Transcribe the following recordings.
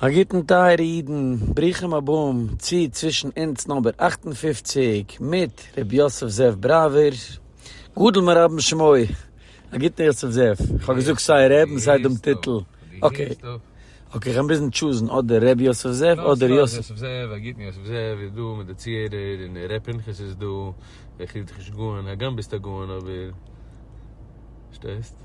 א גוטן טייערע אידן, ברוכים הבאים צו צווישן אונז נאמבער אַכט און פֿופֿציק מיט ר' יוסף זאב בראווער גדול מרבן שמעו, א גוטן יוסף זאב, איך האב געזאגט סיי ר' און סיי דעם טיטל, אקעי אקעי איך קען ביזן טשוזן אדער ר' יוסף זאב אדער יוסף. סתם יוסף זאב, א גוטן יוסף זאב איז דא מיט די צוהערער, און ר' פנחס איז דא, דער חסידישע גאון, הגם ביסט א גאון אבער שטערסט.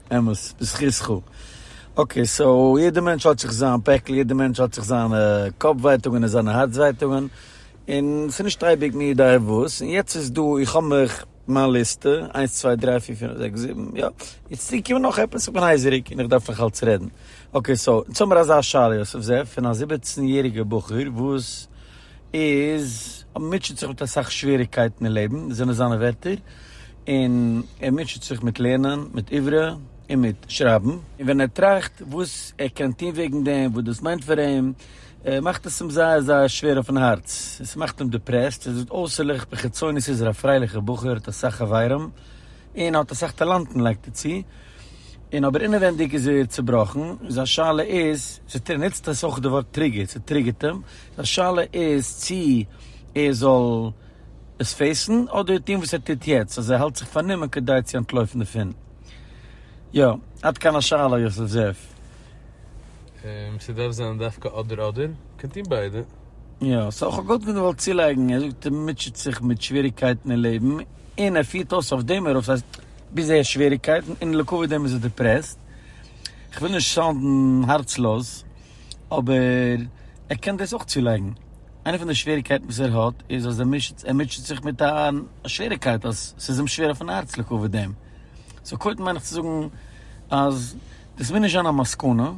אמת, בזכותך. אקעי, סאו יעדע מענטש האט זיך זיין פעקל, יעדע מענטש האט זיך זיינע קאפ ווייטאגען און זיינע הארץ ווייטאגען, און ס'איז נישט אייביג מי יודע וואס, און יעצט איז דא, איך האב מיך, מיין ליסטע, איינס צוויי דריי פיר פינף זעקס זיבן, יא, איז צוגעקומען נאך עפעס, איך בין הייזעריג און איך דארף נאך אלץ רעדן. אקעי סאו, יעצט האמיר אזא שאלה יוסף זאב, פון א זיבעצן יעריגע בחור וואס איז, מוטשעט זיך מיט אסאך שוועריגקייטן אין לעבן, זענען זיינע ווערטער, און ער מוטשעט זיך מיט לערנען, מיט עברה, און מיט שרייבן. און ווען ער טראכט וואס ער קען טון וועגן דעם, וואס דאס מיינט פאר אים, מאכט עס אים זייער זייער שווער אויפן הארץ. עס מאכט אים דיפרעסט. ער זאגט אויסערליך בחיצונית איז ער א פרייליכער בחור, האט אסאך חברים, און האט אסאך טאלאנטן לייגט ער צו, און אבער אינעווענדיג איז ער צובראכן. זיין שאלה איז, ער נוצט אויך די ווארט טריגער, ס'טריגערט אים. זיין שאלה איז צי ער זאל עס פעיסן אדער טוהן וואס ער טוט יעצט אז ער האלט זיך פארנומען כדי צו אנטלויפן דערפון? יא, עד כאן השאלה יוסף זאב. ס'דארף זיין דווקא אדער אדער? קען טוהן ביידע. יא, סאו כ'האב גאט געוואלט צולייגן, ער זאגט ער מוטשעט זיך מיט שוועריגקייטן אין לעבן און ער פירט אויס אויף דעם ארויף, ס'הייסט ביז ער האט שוועריגקייטן און לעקאווי דעם איז ער דעפרעסט, כ'וויל נישט סאונדן הארצלאז אבער ער קען דאס אויך צולייגן. איינע פון די שוועריקייטן וואס ער האט איז אז ער מוטשעט ער מוטשעט זיך מיט א שוועריקייט אז ס'איז אים שווער אויפן הארץ לקבל דעם. סאו קודם מיין איך צו זאגן אז דאס מוז נישט זיין א מסקנא,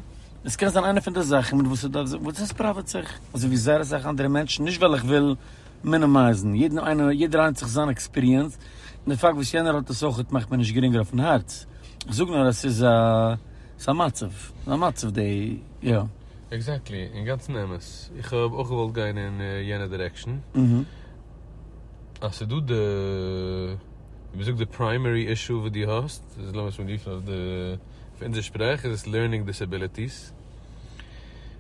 עס קען זיין איינע פון די זאכן מיט וואס ער דארף וואס דאס פראוועט זיך, אזוי ווי זייער אסאך אנדערע מענטשן, נישט ווייל איך וויל מינימייזן, יעדן איינער יעדער איינער האט זיך זיין עקספיריענס, און די פאקט וואס יענער האט עס אויכעט מאכט מיר נישט גרינגער אויפן הארץ, איך זאג נאר אז ס'איז א ס'איז א מצב, ס'איז א מצב די יא. עקזעקטלי, אינגאנצן אמת. איך האב אויך געוואלט גיין אין יענע דירעקשאן. אז ס'איז דא די, ווי מ'זאגט, די פריימערי אישו וואס דו האסט, איז לאמיר עס אנרופן אויף די, אויף אונזער שפראך איז עס לערנינג דיסעביליטיס.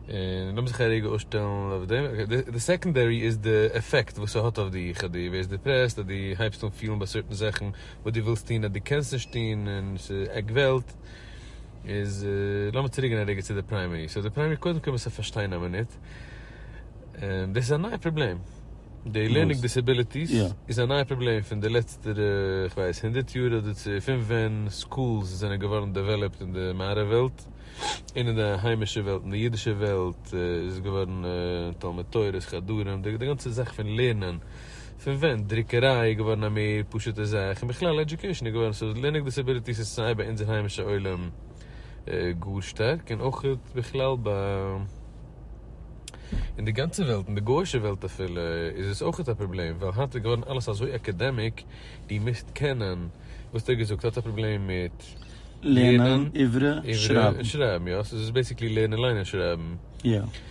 און לאמיר זיך א רגע אפשטעלן אויף דעם. די סעקאנדערי איז די עפעקט וואס ס'האט אויף דיך, אז דו ווערסט דיפרעסט, אז דו הייבסט אן פילן ביי סערטען זאכן וואס דו ווילסט טון אז דו קענסט נישט טון, און ס'עגבעלט. איז לאמיר צוריק גיין א רגע צו די פריימערי, סאו די פריימערי קודם כל מוז ער פארשטיין א מינוט, דאס איז א נייע פראבלעם, די לערנינג דיסעביליטיס איז א נייע פראבלעם פון די לעצטערע איך ווייס הונדערט יאר אדער צו פון ווען סקולס זענען געווארן דעוועלאפט אין די מערב וועלט און אין די היימישע וועלט, אין די אידישע וועלט איז עס געווארן תלמוד תורה'ס חדרים, די גאנצע זאך פון לערנען פון ווען דרוקעריי איז געווארן א מער פשוט'ע זאך, און בכלל עדיוקעישאן איז געווארן סאו לערנונג דיסעביליטיס איז סיי ביי אונזער היימישע עולם גאר שטארק און אויך בכלל ביי אין די גאנצע וועלט אין די גוישע וועלט אפילו איז עס אויך א פראבלעם ווייל היינט איז געווארן אלעס אזוי אקעדעמיק דו מוזט קענען וואס האט ער געזאגט ער האט א פראבלעם מיט לערנען עברי און שרייבן יא סאו עס איז בעסיקלי לערנען ליינען שרייבן.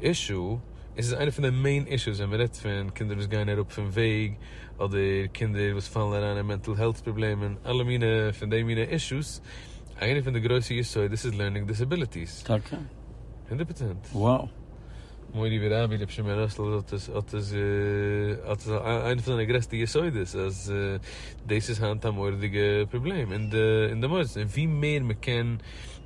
אישו, עס איז איינע פון די מעין אישוס ווען מען רעדט פון קינדער וואס גייען אראפ פון וועג, אדער קינדער וואס פאלן אריין אין מענטל העלט פראבלעמען, אלע מינע פון די מינע אישוס, איינע פון די גרויסע יסודות איז לערנינג דיסעביליטיס. טאקע? הונדערט פראצענט. וואו? מורי ורבי רבי שמעון ראסל האט עס האט עס האט עס איינע פון זיינע גרעסטע יסודות אז דאס איז היינט א מורא'דיגע פראבלעם אין די אין די מוסדות און ווי מער מען קען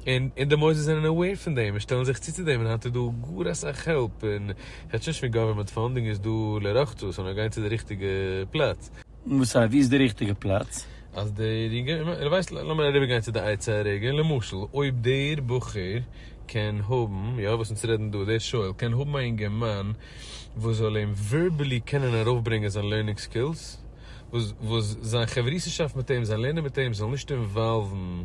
און און די מוסדות זענען אוועיר פון דעם און שטעלן זיך צו צו דעם און היינט איז דא גאר אסאך העלפ און כאטש נישט מיט גאווערמענט פאנדינג איז דא לרחצה סאו נאר גיין צו די ריכטיגע פלאץ. וואס סא ווי איז די ריכטיגע פלאץ? אז דער יונגערמאן, און ווייסט לאמיר אריבער גיין צו די עצה הרגע, למשל אויב דער בחור קען האבן, יא וואס אונז רעדן דא, דער שואל קען האבן א אינגערמאן וואס זאל אים ווערבעלי קענען ארויף ברענגען זיין לערנינג סקילס, וואס זיין חברותא'שאפט מיט אים, זיין לערנען מיט אים זאל נישט אינוואלוון,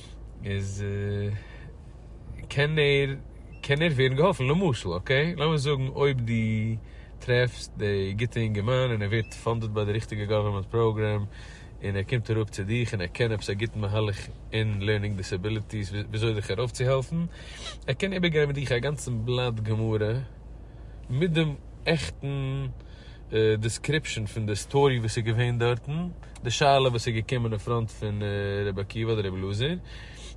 איז קען ער קען ער ווערן געהאלפן, למשל אקעי לאמיר זאגן אויב די טרעפסט די גוטע אינגערמאן און ער ווערט פאנדעד ביי די ריכטיגע גאווערמענט פראגרעם און ער קומט אראפ צו דיך און ער קען עפעס א גוטן מהלך אין לערנינג דיסעביליטיס וויאזוי דיך ארויפצוהעלפן, ער קען איבערגיין מיט דיך א גאנצן בלאט גמרא מיט דעם עכטן. דיסקריפשאן פון די סטארי וואס איז געווען דארטן, די שאלה וואס איז געקומען אין פראנט פון רבי עקיבא אדער רבי אלעזר,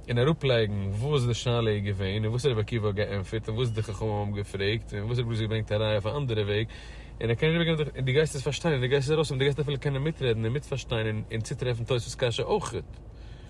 און אראפלייגן וואס די שאלה איז געווען און וואס רבי עקיבא האט געענטפערט און וואס די חכמים האבן געפרעגט און וואס רבי אלעזר האט געברענגט א ראיה אויף א אנדערע וועג, און ער קען איבערגעבן די, און דו גייסט עס פארשטיין און דו גייסט עס ארויסהאבן, דו גייסט אפילו קענען מיטרעדן און מיטפארשטיין און צוטרעפן תוספות קשיא אויך.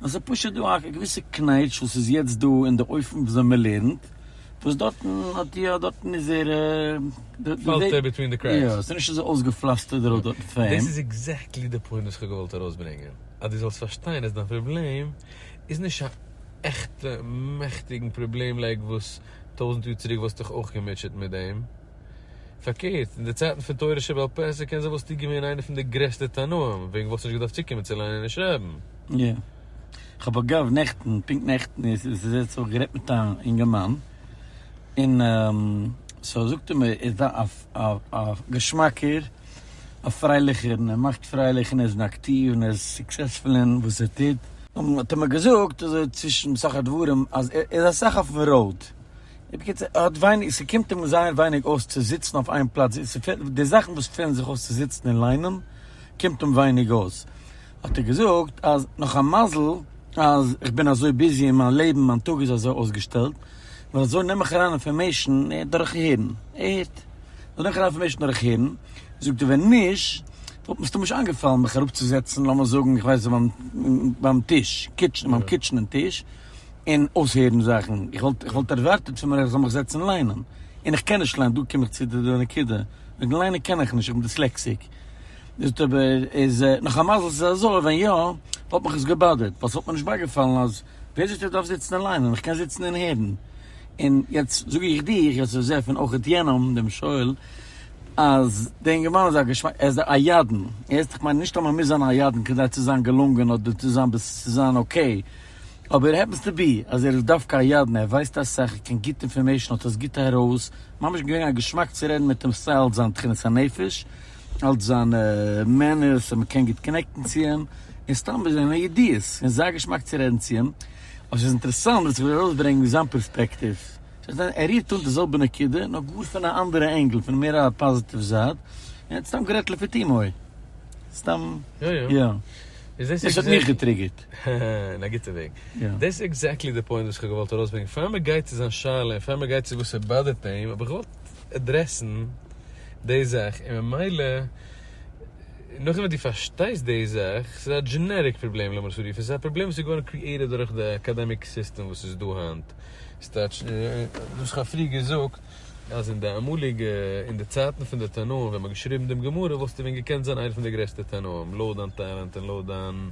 נאר ס'איז פשוט דא א געוויסע קנייטש וואס איז יעצט דא אין די אופן וויאזוי מען לערנט, וואס דארטן האט די יא דארטן איז ער די פאלט ער ביטווין די קרעקס. יא, ס'איז נישט אזוי אויסגעפלאסטערט די ראוד דארטן פאר דאס אים. איז עקזעקטלי די פוינט וואס כ'האב געוואלט ארויסברענגען, אז דו זאלסט פארשטיין אז דיין פראבלעם איז נישט א עכטע מעכטיגן פראבלעם לייק וואס טויזנט יאר צוריק וואלסטוך אויך געמוטשעט מיט דעם. פארקערט, אין די צייטן פון תורה שבעל פה איז ער קען זיין וואס טאג געווען איינער פון די גרעסטע תנאים, וועגן וואס נישט געדארפט צוקומען צו ליינען און שרייבן. יא. כ'האב אגב נעכטן, פונקט נעכטן איז עס איז יעצט אויך גערעדט מיט א אינגערמאן, און סאו זאגט ער מיר, ער איז א א געשמאקער, א פרייליכער, און ער מאכט פרייליך, און ער איז אקטיוו, און ער איז סוקסעספול אין וואס ער טוט. האט ער מיר געזאגט אזוי צווישן סך הדברים, אז ער איז אסאך אויפן ראוד. בקיצור, ער האט ווייניג, ס'קומט אים זייער ווייניג אויס צו זיצן אויף איין פלאץ, די זאכן וואס פעלן זיך אויס צו זיצן און ליינען קומט אים ווייניג אויס, האט ער געזאגט אז נאך א מזל אז איך בין אזוי ביזי אין מיין לעבן, מיין טאג איז אזוי אויסגעשטעלט, ווייל אזוי נעם איך אריין אינפארמעישן דורך הערן, ער הערט, אזוי נעם איך אריין אינפארמעישן דורך הערן, זאגט ער, ווען נישט וואלט מיר סתם נישט איינגעפאלן מיך אראפצוזעצן, לאמיר זאגן איך ווייס נישט ביים טיש, קיטשן, ביים קיטשענען טיש. און אויסהערן זאכן, איך וואלט איך וואלט ערווארטעט פון מיר איך זאל מיך זעצן ליינען, און איך קען נישט ליינען, דא קום איך צו די נקודה, וועגן ליינען קען איך נישט, איך בין דיסלעקסיק, איז טוב איז נאך א מזל ס'איז אזוי, ווען יא, וואלט מיך עס געבאדערט, ווייל ס'וואלט מיר נישט בייגעפאלן אז ווער זאגט איך דארף זיצן און ליינען, איך קען זיצן און הערן, און יעצט זאג איך דיר, יוסף זאב און אויך יענעם דעם שואל, אז דער אינגערמאן איז א געשמאק, ער איז א ידען, יעצט איך מיין נישט אז מ'מוז זיין א ידען כדי צו זיין געלונגען אדער צו זיין צו זיין אקעי. אבער העפענס טו בי אז ער איז דווקא א ידען, ער ווייסט אסאך, ער קען גוט אינפארמעישן, האט עס גוט ארויס, ממש געווען א געשמאק צו רעדן מיט אים סיי אלץ זיין תכונת הנפש, אלץ זיינע מענערס און מ'קען גוט קאנעקטן צו אים, און סתם מיט זיינע ידיעות, און זייער געשמאק צו רעדן צו אים, אבער ס'איז אינטערעסאנט וואס איך וויל ארויסברענגן זיין פערספעקטיוו, ס'קען זיין ער רירט אן די זעלבע נקודה נאר גאר פון א אנדערע ענגל, פון מער א פאזיטיוו זייט, און ער האט סתם גערעדט לפי תומו, סתם יא, דאס האט מיך געטריגערט. גערעכט. אין א גוטע וועג. דאס איז עקזעקטלי די פוינט וואס איך האב געוואלט ארויסברענגען. פאר מען גייט צו זיין שאלה און פאר מען גייט צו וואס ער באדערט אים, האב איך געוואלט עדרעסן די זאך. און ממילא, נאכדעם וואס דו פארשטייסט די זאך, ס'איז א דזשענעריק פראבלעם לאמיר עס אזוי רופן. ס'איז א פראבלעם וואס איז געווארן קריעיטעד דורך די אקאדעמיק סיסטעם וואס איז דא היינט. ס'טייטש, וואס איך האב פריער געזאגט, אז אין די אמאליגע אין די צייטן פון די תנאים ווען מען האט געשריבן דעם גמרא וואלסטו ווען געקענט זיין איינער פון די גרעסטע תנאים לויט דיין טאלאנט און לויט דיין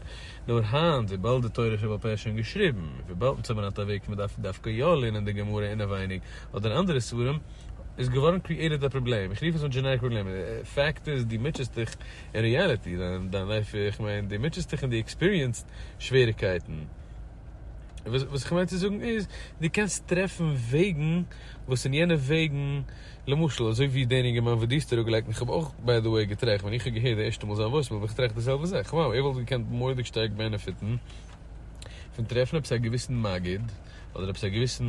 נאר היינט וויבאלד די תורה שבעל פה איז שוין געשריבן און וויבאלד מען האט אוועק מען דארף דווקא יא לערנען די גמרא אינעווייניג אדער אנדערע ספרים איז געווארן קריעיטעד א פראבלעם איך רוף עס אן דזשענעריק פראבלעם פאקט איז דו מוטשעסט דיך אין ריעליטי דיין לייף איך מיין דו מוטשעסט דיך און דו עקספיריענסד שוועריקייטן. וואס איך מיין צו זאגן איז, דו קענסט טרעפן וועגן וואס אין יענע וועגן, למשל אזוי ווי דער אינגערמאן וואס דו האסט אראפגעלייגט, און איך האב אויך ביי די וועי געטראכט, ווען איך האב געהערט די ערשטע מאל זיין וואויסמעיל האב איך געטראכט די זעלבע זאך, וואו, ער וואלט געקענט מורא'דיג שטארק בענעפיטן פון טרעפן עפעס א געוויסן מגיד, אדער עפעס א געוויסן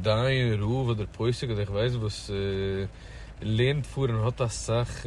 דיין, רב אדער פוסק אדער איך ווייס וואס, לערנט פאר און האט אסאך.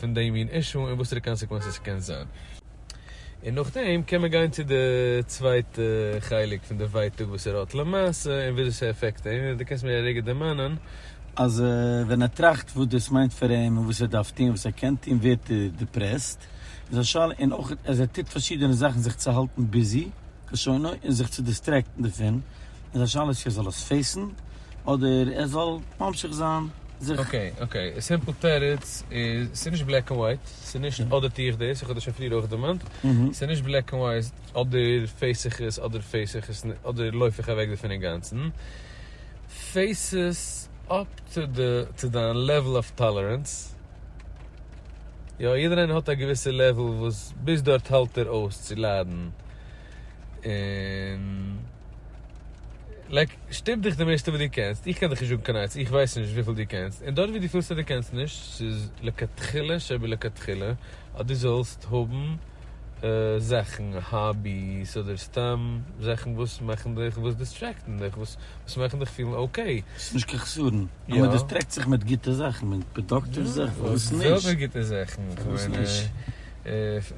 פון די מין אישו און וואסערע קאנסעקווענסעס ס'קען זיין. און נאכדעם קען מען גיין צו די צווייטע חלק פון די ווייטאג וואס ער האט למעשה און וויאזוי ס'עפעקט אים, און דו קענסט מיר רגע דערמאנען. אז ווען ער טראכט וואס דאס מיינט פאר אים און וואס ער דארף טון, וואס ער קען טון, ווערט ער דיפרעסט, איז א שאלה, און אויך אז ער טוט פארשידענע זאכן זיך צו האלטן ביזי, כלשונו, און זיך צו דיסטרעקטן דערפון, איז א שאלה צו ער זאל עס פעיסן אדער ער זאל ממשיך זיין זיך. אקעי אקעי, א סימפל תירוץ איז, ס'איז נישט בלעק און ווייט, ס'איז נישט אדער טו איך דאס, איך האב דאס שוין פריער אויך דערמאנט, ס'איז נישט בלעק און ווייט, אדער פעיס איך עס אדער פעיס איך עס נישט, אדער לויף איך אוועק דערפון אינגאנצן, פעיס עס אפ טו די טו דיין לעוול אוו טאלערענס, יא יעדער איינער האט א געוויסע לעוול וואס ביז דארט האלט ער אויס צו ליידן, און לייק שטופ דיך די מערסטע וואס דו קענסט, איך קען דיך נישט זאגן קיין עצה, איך ווייס נישט וויפיל דו קענסט, און דארט וואו דו פילסט אז דו קענסט נישט, ס'איז לכתחילה שבלכתחילה אז דו זאלסט האבן זאכן, האביס אדער סתם זאכן וואס מאכן דיך, וואס דיסטרעקטן דיך, וואס מאכן דיך פילן אקעי. ס'איז נישט קיין חסרון אז מען דיסטרעקט זיך מיט גוטע זאכן, מיט פראדוקטיוו זאכן, וואס נישט? וואס זענען גוטע זאכן?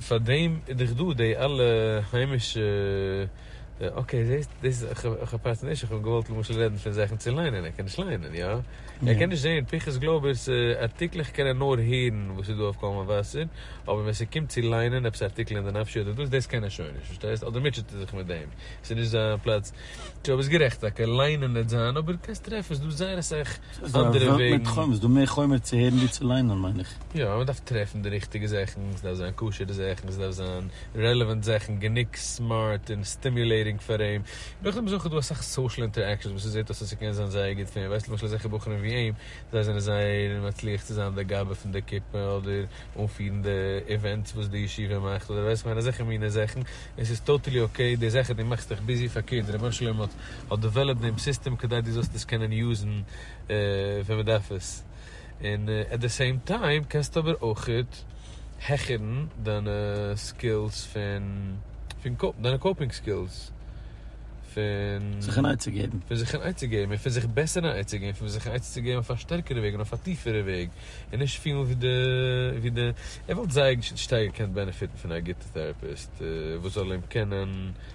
פאר דעם איז דאך דא די אלע היימישע, אקעי זעסט דאס איך האב פארצן נישט, איך האב געוואלט למשל רעדן פון זאכן צו ליינען, ער קען נישט ליינען יא? ער קען נישט זעהן פיכחס גלויבערס ארטיקלעך קען ער נאר הערן וואס איז דא אויף קול מבשר, אבער ווען ס'קומט צו ליינען עפעס ארטיקלען די נפשי אדער דאס דאס קען ער שוין נישט פארשטייסט אדער מוטשעט ער זיך מיט דעם ס'איז נישט זיין פלאץ, טשו ביסט גערעכט טאקע ליינען העט זיין אבער קענסט טרעפן ס'איז דא זייער אסאך ס'איז דא א וועלט מיט חומר, ס'איז דא מער חומר צו הערן ווי צו ליינען מיין איך. יא, אבער מ'דארף טרעפן די ריכטיגע זאכן, ס'דארף זיין כשר'ע זאכן, ס'דארף זיין רעלעווענט זאכן, גענוג סמארט און סטימיולעיטינג פאר אים. נאכדעם איז אויך דא אסאך סאושעל אינטערעקשאנס וואס ס'זעט אויס אז ס'קען זיין זייער גוט פאר אים, ווייסט למשל אזעלכע בחורים ווי אים, זיי זענען זייער מצליח צו זיין דער גאבע פון די כיתה אדער אנפירן די איווענטס וואס די ישיבה מאכט אדער ווייסט איך מיין אזעלכע מינע זאכן, און ס'איז טאטעלי אקעי, די זאך אז דו מאכסט דיך ביזי פארקערט, רבונו של עולם האט האט דעוועלאפט דעם סיסטעם כדי דו זאלסט עס קענען יוזן ווען מען דארף עס, און עט די סעים טיים קענסטו אבער אויכעט העכערן דיינע סקילס פון דיינע קאופינג סקילס פון זיך אן עצה געבן, פון זיך אן עצה געבן און פון זיך בעסער אן עצה געבן, פון זיך אן עצה צו געבן אויף א שטערקערע וועג און אויף א טיפערע וועג, און נישט פילן ווי די ווי די ער וואלט זייער שטארק געקענט בענעפיטן פון א גוטע טעראפיסט וואס זאל אים קענען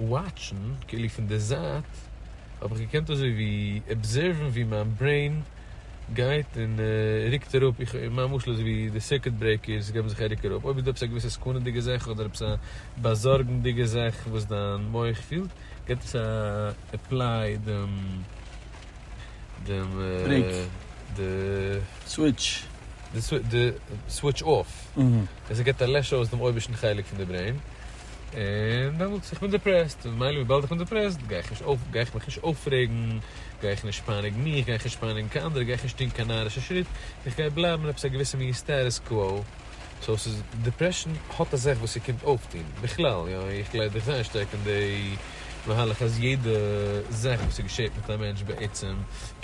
וואטשן כאילו פון די זייט האב איך געקענט אזוי ווי אבזערוון ווי מיין ברעין גייט און רוקט אראפ, איך מיין משל אזוי ווי די סירקוט ברעיקערס געבן זיך א רוק אראפ, אויב איז דא עפעס א געוויסע סכנה'דיגע זאך אדער עפעס א באזארגנדיגע זאך וואס דיין מח פילט געבט עס א עפליי דעם דעם ברעיק די סוויטש די סוויטש אויף און ס'געבט א לעש אויס דעם אויבערשטן חלק פון די ברעין. און דעמאלטס איך בין דעפרעסט, ממילא וויבאלד איך בין דעפרעסט גיי איך נישט אויף, גיי איך מיך נישט אויפרעגן, גיי איך נישט פייניגן מיך, גיי איך נישט פייניגן קיין אנדערע, גיי איך נישט טון קיין נארישע שריט, איך גיי בלייבן אין עפעס א געוויסע מין סטעטוס קוואו. סאו ס'איז, דעפרעשן האט א זאך וואס ס'קומט אויפטון, בכלל, יא, איך גלייב דאך זייער שטארק אין די מהלך אז יעדע זאך וואס ס'געשעט מיט א מענטש בעצם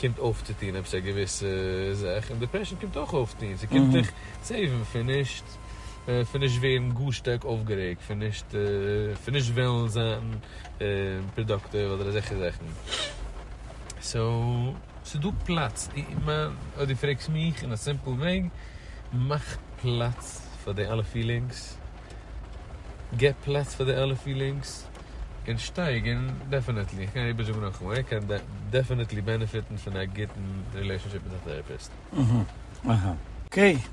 קומט אויפצוטון עפעס א געוויסע זאך, און דעפרעשן קומט אויך אויפטון, ס'קומט דיך סעיוון פון נישט. פון נישט ווערן גאר שטארק אויפגערעגט פון נישט פון נישט וועלן זיין פראדאקטיוו אדער אזעלכע זאכן סאו ס'איז דא פלאץ אויב דו פרעגסט מיך אין א סימפל וועג מאך פלאץ פאר די אלע פילינגס גיב פלאץ פאר די אלע פילינגס און שטייג און דעפענעטלי איך קען איבער זאגן נאכאמאל ער קען דעפענעטלי בענעפיטן פון א גוטן רילעישאנשיפ מיט א טעראפיסט. אהה אהה אקעי.